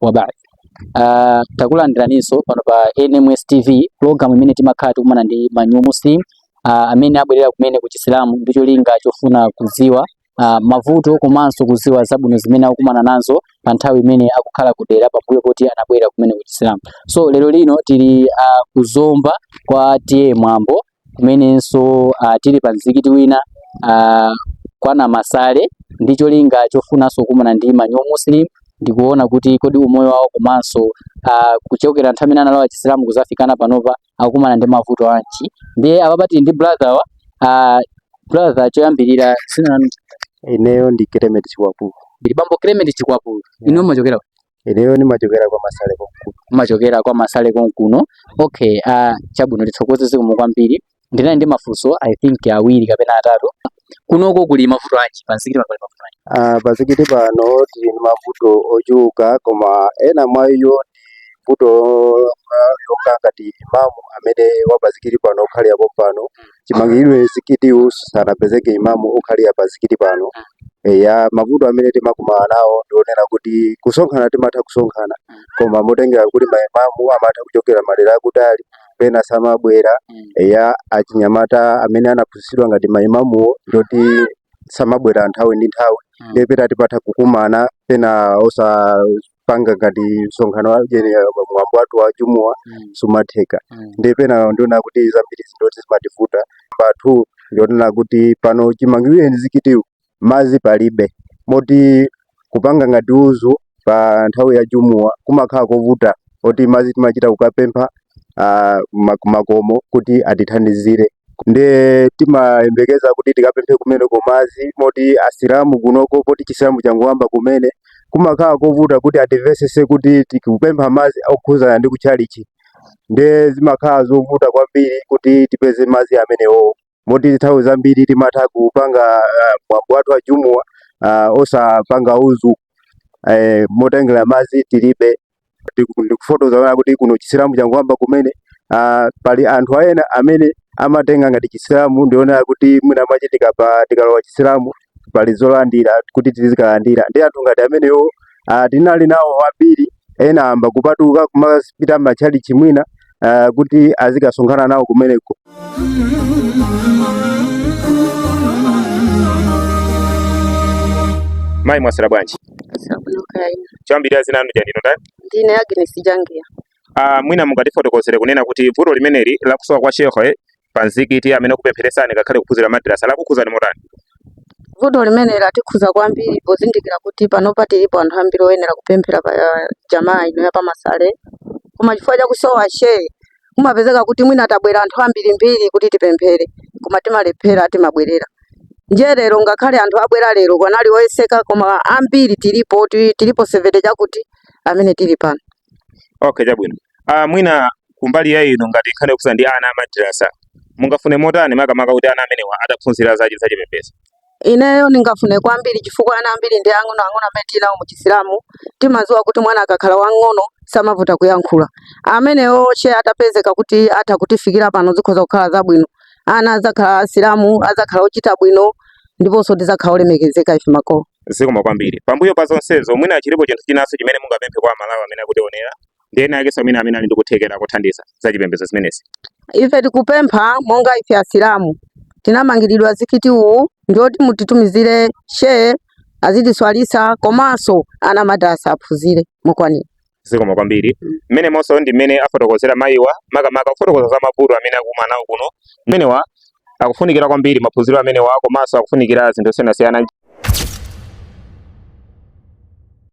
wa ba'd. Uh, takulandiraninso pano pa NMS TV program imene timakhala tikumana ndi ma new muslim uh, amene abwera kumene ku Chisilamu ndi cholinga chofuna kudziwa uh, mavuto komanso kudziwa zabwino zimene akukumana nazo pa nthawi imene akukhala kudera pambuyo poti anabwera kumene ku Chisilamu. So lero lino tili uh, ku Zomba kwa T/A Mwambo kumenenso ah, tili pa mzikiti wina ah, kwa Namasale ndi cholinga chofunanso kukumana ndi ma new muslim ndikuona kuti kodi umoyo wawo komanso ah, kuchokera nthawi imene analowa chisilamu kuzafikana panopa akukumana ndi mavuto anji ndiye apapa tili ndi brother wathu ah, brother choyambirira dzina lanu ineyo ndi Clement Chikwapu ndili bambo Clement Chikwapu inu mumachokera Ineyo ndimachokera kwa Masale konkuno. Umachokera kwa Masale konkuno. Okay, uh, chabwino tithokoze zikomo kwambiri. Ndinali ndi mafunso I think awiri kapena atatu. Kunoko kuli mavuto anji pa mzikiti pano pali mavuto anji? Uh, pa mzikiti pano tili ndi mavuto ochuluka koma ena mwa iwo ndi vuto longa ngati imamu amene wa pa mzikiti pano okhalira pompano chimangidwire mzikitiwu sanapezeke imamu okhalira pa mzikiti pano eya mavuto amene timakumana nawo ndikonena kuti kusonkhana timatha kusonkhana koma motengera kuti maimamu amatha kuchokera madera akutali pena samabwera eya achinyamata amene anaphunzitsidwa ngati maimamuwo ndoti samabwera nthawi ndi nthawi nde pena timatha kukumana pena osa panga ngati msonkhano wa kaya ndi mwambo wathu wa jumuwa Mm. sumatheka Mm. ndi pena ndikonena kuti zambiri nzoti zimativuta pathu ndikonena kuti pano chimangirire mzikitiwu madzi palibe moti kupanga ngati udhu pa nthawi ya jumuwa kumakhala kovuta moti madzi timachita kukapempha uh, makomo kuti atithandizire nde timayembekeza kuti tikapemphe kumene ko madzi moti asilamu kunoko poti chisilamu changoyamba kumene kumakhala kovuta kuti atimvetsetse kuti tikupempha madzi okhuzana ndi kutchalichi nde zimakhala zovuta kwambiri kuti tipeze madzi amenewowo moti nthawi zambiri timatha kupanga ah, mwambo wathu wa jumuwa ah, osapanga udhu eh, motengera madzi tilibe Ndiku- ndikufotokoza zonena kuti kuno chisilamu changoyamba kumene ah, pali anthu ena amene amatenga ngati chisilamu ndikuona kuti mwina mache tikapa tikalowa chisilamu pali zolandira kuti tizikalandira ndi anthu ngati amenewo ah, tinali nawo ambiri ena ayamba kupatuka kumapita matchalichi mwina uh, kuti azikasonkhana nawo kumeneko mayi mwaswera bwanji choyambirira dzina lanu dzinalo ndani ndine agnes jangia uh, mwina mungatifotokozere kunena kuti vuto limeneli lakusowa kwa shekhe pa mzikiti amene kupempheretsani ngakhale kuphunzira madrasa lakukhudzani motani vuto limene latikhudza kwambiri pozindikira kuti panopa tilipo anthu ambiri oyenera kupemphera pa eh, jamaa ino ya pamasale koma chifukwa cha kusowa shehe kumapezeka kuti mwina tabwera anthu ambirimbiri kuti tipemphere koma timalephera timabwerera ndiye lero ngakhale anthu abwera lero kunali oyeseka koma ambiri tilipo ti- tilipo sevente chakuti amene tili pano okay chabwino Uh, mwina kumbali ya inu ngati nkhani yokhudza ndi ana a madrasa mungafune motani makamaka kuti ana amenewa ataphunzira za chipembedzo? Ineyo ndingafune kwambiri chifukwa ana ambiri ndi ang'ono ang'ono amene tili nawo mu Chisilamu timadziwa kuti mwana akakhala wang'ono samavuta kuyankhula. Amenewo shehe atapezeka kuti atha kutifikira pano zikhoza kukhala zabwino. Ana adzakhala Asilamu, adzakhala ochita bwino ndiponso tidzakhala olemekezeka ife makolo. Zikomo kwambiri. Pambuyo pa zonsezo mwina chilipo chinthu chinanso chimene mungapemphe kwa Amalawi amene akutionera? ndi ena akenso amene amene ali ndi kuthekera kothandiza za chipembedzo zimenezi. Ife tikupempha monga ife Asilamu tinamangiridwa mzikiti uwu ndi woti mutitumizire shehe azitiswalitsa komanso ana a madrasa aphunzire mokwanira. zikomo kwambiri mmenemonso ndi mmene afotokozera mayiwa makamaka kufotokoza za mavuto amene akukumana nawo kuno amenewa akufunikira kwambiri maphunziro amenewa komanso akufunikira zinthu zosiyanasiyana